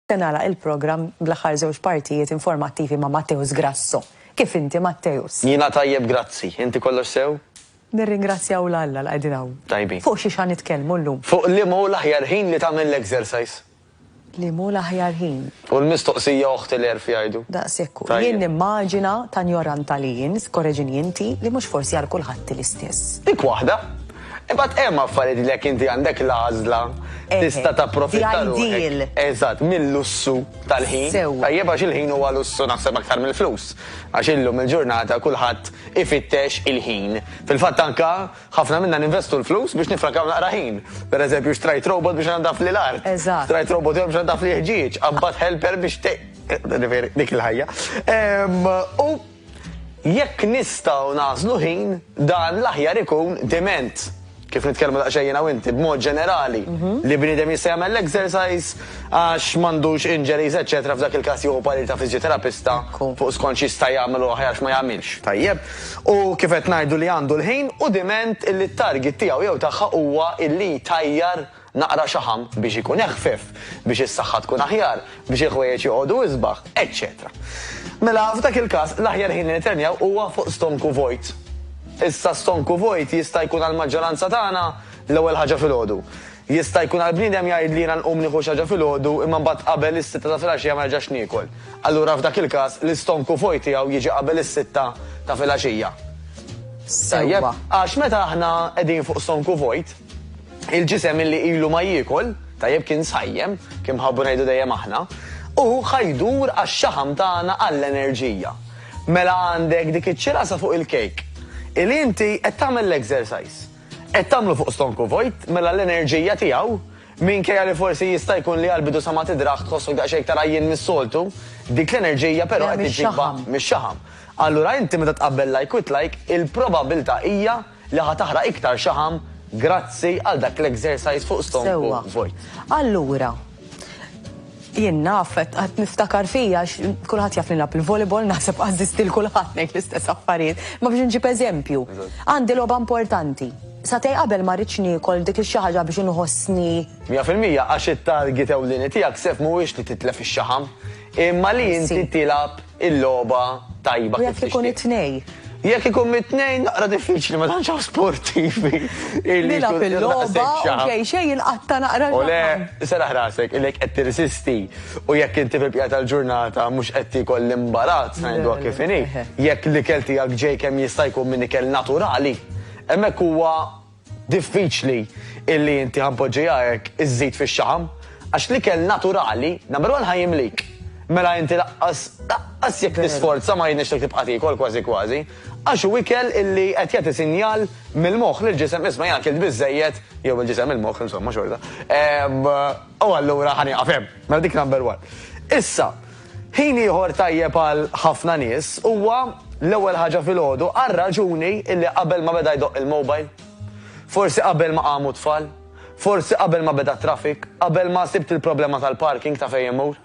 Se nagħlaq il-programm bl-aħħar żewġ partijiet informattivi ma' Matteus Grasso. Kif inti, Matteus? Jiena tajjeb grazzi. Inti kollox sew? Nirringrazzjaw 'l Alla li qegħdin hawn. Tajbin. Fuq xiex ħa nitkellmu llum? Fuq liema hu l-aħjar ħin li tagħmel l-exercise. Liema hu l-aħjar ħin? U l-mistoqsija oħti l-għerf jgħidu. Daqs hekk hu. Jien nimmaġina, ta' njorantalli jien, korreġini inti, li mhux forsi għal kulħadd hi l-istess. Dik waħda. Imbagħad hemm affarijiet li jekk inti għandek l-għażla tista' tapprofitta ruħek. Eżatt, mil-lussu tal-ħin. Tajjeb għax il-ħin huwa lussu naħseb aktar mill-flus. Għax illum il-ġurnata kulħadd ifittex il-ħin. Fil-fatt anke ħafna minna ninvestu l-flus biex nifrankaw naqra ħin. Per eżempju xtrajt robot biex inaddafli l-art. Xtrajt robot ieħor biex inaddafli l-ħġieġ. Qabbadt helper biex dik il-ħajja. U Jekk nistgħu nagħżlu ħin, dan l-aħjar ikun diment. Kif nitkellmu daqsxejn jiena u inti, b'mod ġenerali, li bniedem jista' jagħmel l-exercise għax m'għandux injuries eċċetera f'dak il-każ jieħu parir ta' fiżjoterapista fuq skont x'jista' jagħmel u aħjar x'ma jagħmilx. Tajjeb. U kif qed ngħidu li għandu l-ħin u diment illi t-target tiegħu jew tagħha huwa illi jtajjar naqra xaħam biex ikun eħfef, biex is-saħħa tkun aħjar, biex il-ħwejjeġ joqogħdu isbaħ, eċċetera Mela, f'dak il-każ, l-aħjar ħin li nitrenjaw huwa fuq stonku vojt. Issa stonku vojt jista' jkun għall-maġġoranza tagħna l-ewwel ħaġa filgħodu. Jista' jkun għal bniedem jgħid li jiena nqum nieħu xi ħaġa filgħodu imma mbagħad qabel is-sitta ta' filgħaxija ma nerġax niekol. Allura f'dak il-każ l-istonku vojt tiegħu jiġi qabel is-sitta ta' filgħaxija. Tajjeb? Għax meta aħna qegħdin fuq stonku vojt, Il-ġisem illi ilu ma jiekol, tajjeb kien sajjem, kien nħabbu ngħidu dejjem aħna, u ħa jdur għax-xaħam tagħna għall-enerġija. Mela għandek dik iċ-ċirasa fuq il-kejk. Illi inti qed tagħmel l-exercise. Qed tagħmlu fuq stonku vojt, mela l-enerġija tiegħu, minkejja li forsi jista' jkun li għall-bidu sa ma tidrah tħossok daqsxejn iktar għajjien mis-soltu, dik l-enerġija però qed iġġibha mix-xaħam. Allura inti meta tqabbel like with like, il-probabbiltà hija, li ħa taħraq iktar xaħam grazzi għal dak l-exercise fuq stonku vojt. Sewwa. Allura, jien naf qed qed niftakar fija għax kulħadd jaf li nilgħab il-volleyball naħseb għażżiżt lil kulħadd ngħid l-istess affarijiet. Imma biex inġib eżempju, għandi logħba importanti. Sagħtej qabel ma rridx niekol dik ix-xi ħaġa biex inħossni 100% għax it-target ewlieni tiegħek sef mhuwiex li titlef ix-xaħam imma li inti tilgħab Il-logħba tajba kif tixtieq. U jekk ikun it-tnejn? Jekk ikun mit-tnejn naqra diffiċli ma tantx hawn sportivi. Nilgħab il-logħba u xejn xejn jinqatta' naqra l-ġaħħa. U le, serraħ rasek, ilek qed tirsisti u jekk inti fil-bqija tal-ġurnata mhux qed tiekol l-imbarazz ngħiduha kif inhi, jekk l-ikel tiegħek ġej kemm jista' jkun minn ikel naturali, hemmhekk huwa. Diffiċli illi inti ħa npoġġiha hekk iżżid fix-xaħam, għax l-ikel naturali, number one ħa jimlik. Mela inti laqqas, laqqas jekk tisforza ma jirnexxilek tibqa' tiekol kważi kważi, għax hu ikel illi qed jagħti sinjal mill-moħħ lill-ġisem isma' jiena kilt biżżejjed, jew il-ġisem il-moħħ insomma xorta, u allura ħa nieqaf hemm. Mela dik number one. Issa, Ħin ieħor tajjeb għal ħafna nies huwa l-ewwel ħaġa filgħodu għar-raġuni illi qabel ma beda jdoqq il-mobile, forsi qabel ma qamu t-tfal, forsi qabel ma beda t-traffic, qabel ma sibt il-problema tal-parking ta' fejn immur.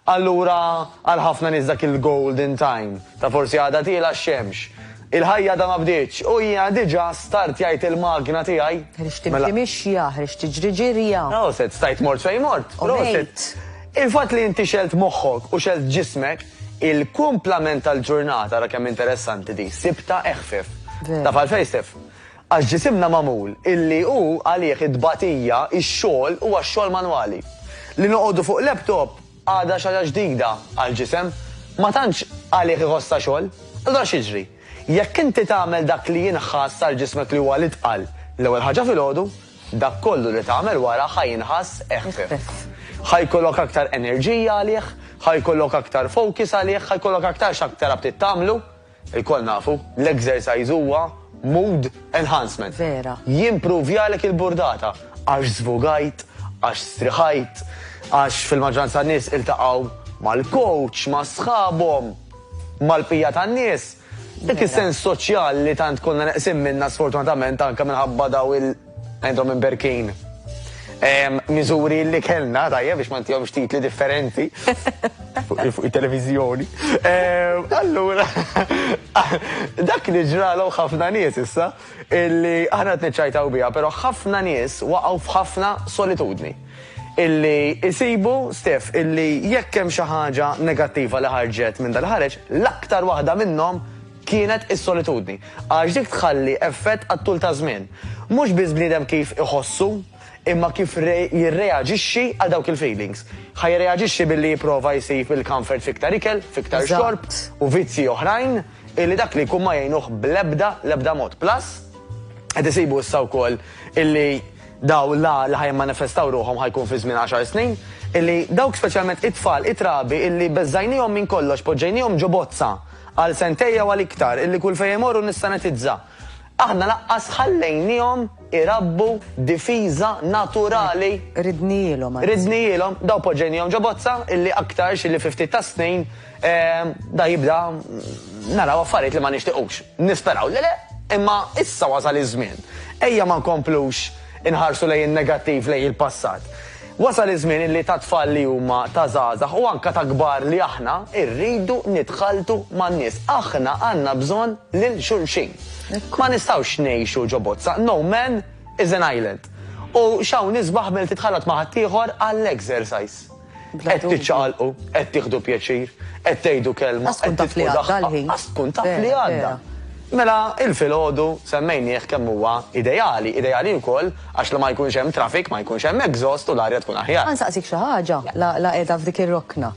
Allura għal ħafna nies dak il-golden time ta' forsi għadha tiela' x-xemx, Il-ħajja għadha ma bdietx u jiena diġà start jgħid il-magna tiegħi. Ħriġt timxi mixja, ħriġt tiġri ġirja. Proset, stajt mort fejn mort. U ngħid. Il-fatt li inti xegħelt moħħok u xegħelt ġismek, il-kumplament tal-ġurnata, ara kemm interessanti din, sibtha eħfef. Veru. Taf għalfejn, Steph? Għax ġisimna magħmul illi hu għalih it-tbatija, ix-xogħol huwa x-xogħol manwali. Li noqogħdu fuq laptop, Għadha xi ħaġa ġdida għall-ġisem, ma tantx għalih iħossha xogħol. Allura x'jiġri? Jekk inti tagħmel dak li jinħass għal ġismek li huwa l-itqal l-ewwel ħaġa filgħodu, dak kollu li tagħmel wara ħa jinħass eħfef. Ħa jkollok aktar enerġija għalih, ħa jkollok aktar focus għalih, ħa jkollok aktar x'aktar aptit tagħmlu. Ilkoll nafu, l-exercise huwa mood enhancement. Vera. Jimpruvjalek il-burdata. Għax żvugajt, għax striħajt, għax fil-maġġoranza tan-nies iltaqgħu mal-coach, ma' sħabhom, mal-bqija tan-nies. Dak is-sens soċjali li tant konna neqsin minnha sfortunatament anke minħabba dawn il-. Għandhom imberkin miżuri li kellna, tajja biex ma ntihomx titli differenti fuq il-televizjoni. Allura, dak li ġralhom ħafna nies issa, illi aħna tniċċajtaw biha, però ħafna nies waqgħu f'ħafna solitudni. Illi jsibu, Stef, illi jekk hemm xi ħaġa negattiva li ħarġet minn dal-ħareġ, l-aktar waħda minnhom kienet is-solitudni, għax dik tħalli effett għat-tul taż-żmien. Mhux biss bniedem kif iħossu, imma kif jirreaġixxi għal dawk il-feelings. Ħa jirreaġixxi billi jipprova jsib il-comfort f'iktar ikel, f'iktar xorb u vizzji oħrajn illi dak li jkun ma jgħinuh bl-ebda, l-ebda mod. Plus, qed isibu issa wkoll illi dawn la li ħa jimmanifestaw ruħhom ħa jkun fi żmien għaxar snin, illi dawk speċjalment it-tfal, it-trabi illi beżżajnihom minn kollox, poġġejnihom ġo bozza, Għal sentejn jew għal iktar, illi kull fejn imorru nissanitizza. Aħna laqqas ħallejniehom irabbu difiża naturali. Ridnihielhom anzi. Ridnihielhom, dawn poġġejniehom ġo bozza illi aktarx illi fi ftit tas-snin da jibda naraw affarijiet li ma nixtiqux. Nisperaw li le, imma issa wasal iż-żmien. Ejja ma nkomplux inħarsu lejn in-negattiv, lejn il-passat. Wasal iż-żmien illi tat-tfal li huma ta' żgħażagħ u anke ta' kbar li aħna rridu nitħalltu man-nies. Aħna għandna bżonn lil xulxin. Ma nistgħux ngħixu ġo bozza, no man is an island. U x'hawn isbaħ milli titħallat ma' ħaddieħor għall-exercise. Qed tiċċaqalqu, qed tieħdu pjaċir, qed tgħidu kelma, qed titfgħu daħqa, ħass tkun taf li għadda. Mela, il-filgħodu semmejnieh kemm huwa ideali, ideali wkoll, Għax li ma jkunx hemm traffic, ma jkunx hemm exhaust u l-arja tkun aħjar. Ħa nsaqsik xi ħaġa, la qiegħda f'dik ir-rokna.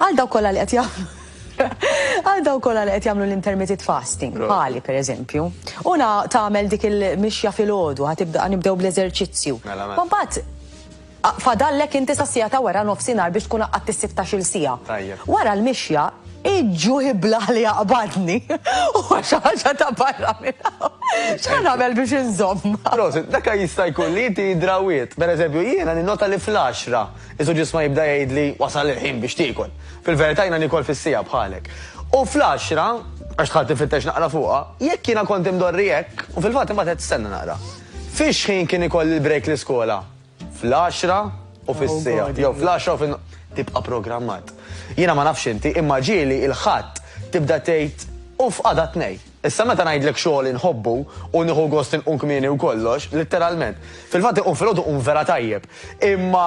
Għal dawk kollha li qed jagħmlu għal dawk kollha li qed jagħmlu l-intermitted fasting, bħali pereżempju, u tagħmel dik il-mixja filgħodu, ħa tibda nibdew bl-eżerċizzju. Mela, mela. Mbagħad Fadallek inti sas-siegħa ta' wara nofsinhar biex tkun qaqqadt is-sittax-il siegħa. Tajjeb. Wara l-mixja, iġ-ġuħ iblah li jaqbadni. Huwa xi ħaġa ta' barra minn hawn. X'ħa nagħmel biex inżommha? Prosit, dak jista' jkun li inti drawiet. Per eżempju, jiena ninnota li fl-għaxra isu ġisma jibda jgħidli wasal il-ħin biex tiekol. Fil-verità jiena niekol fis-siegħa bħalek. U fl-għaxra, għax dħalt infittex naqra fuqha, jekk jiena kont imdorri hekk, u fil-fatt imbagħad qed tistenna naqra. Fix-xħin kien ikolli l-break l-iskola? fl-għaxra u fis-siegħat, jew fl-għaxra u fin. Tibqa' programmat. Jiena ma nafx inti, imma ġieli il-Ħadd tibda tgħid, 'Uff, għada t-Tnejn. Issa meta ngħidlek xogħol inħobbu u nieħu gost inqum kmieni u kollox, litteralment. Fil-fatt inqum filgħodu nqum vera tajjeb. Imma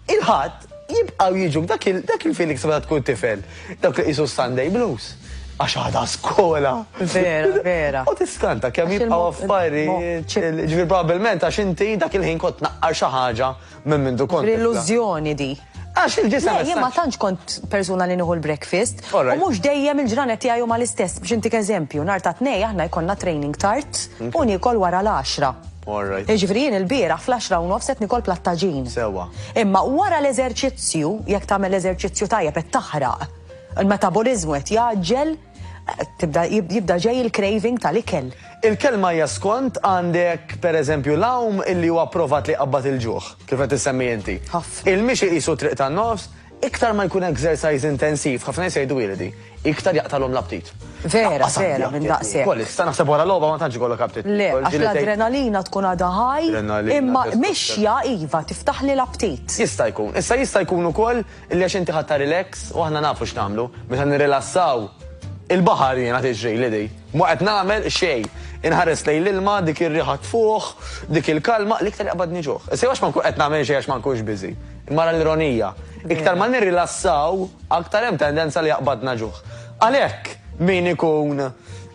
il-Ħadd. Jibqgħu jiġu dak il-feeling sa meta tkun tifel, dawk li qisu Sunday blues. Għax għadha skola. Vera, vera. U tiskanta kemm jibqgħu affarijiet. Ġifier probabbilment għax inti dak il-ħin kont naqqar xi ħaġa minn mindu kont. L-illużjoni di. Għax il-ġisem. Jien ma tantx kont persuna li nieħu l-breakfast. U mhux dejjem il-ġranet tiegħi huma l-istess biex intik eżempju, nhar ta' tnej aħna jkollna training tard u niekol wara l-10. All right. Jiġifieri jien ilbieraħ fl-għaxra u nofs qed nikol platt taġin. Sewwa. Imma wara l-eżerċizzju, jekk tagħmel eżerċizzju tajjeb qed taħraq, il-metaboliżmu qed jgħaġġel, tibda jibda ġej il-craving tal-ikel. Il-kelma hija skont għandek pereżempju l-għawm illi hu approvat li jqabbad il-ġuħ, kif qed issemmi inti. Ħafna. Il-mixi qisu t-triq tan-nofs, Iktar ma jkun exercise intensiv, ħafna nies jgħidu ili di, iktar jaqtalhom l-aptit. Vera, vera, minn daqshekk. Ukoll issa naħseb wara logħba ma tantx ikollok aptit. Le, għax l-adrenalina tkun għadha high, imma mixja iva, tiftaħ li l-aptit. Jista' jkun. Issa jista' jkun ukoll li għax inti ħadtha relax u aħna nafu x'nagħmlu, meta nirrilassaw, il-baħar jiena tiġrili di. Ma qed nagħmel xejn. Inħares lejn l-ilma, dik ir-riħa tfuħ, dik il-kalma, l-iktar jaqbadni ġuħ. Issa jew għax ma nkun qed nagħmel xejn għax ma nkunx busy. Imma ara l-ironija, iktar ma nirrilassaw, aktar hemm tendenza li jaqbadna ġuħ. Għalhekk, min ikun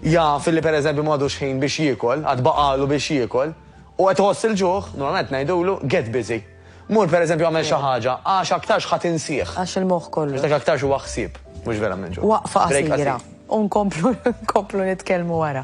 jaf li pereżempju m'għadux ħin biex jiekol, għad baqagħlu biex jiekol, u qed iħoss il-ġuħ, normalment ngħidulu, get busy. Mur pereżempju agħmel xi ħaġa, għax aktarx ħa tinsih. Għax il-moħħ kollu. Għax dak aktarx huwa ħsieb, mhux verament ġuħ. Waqfa qasira, u nkomplu nitkellmu wara.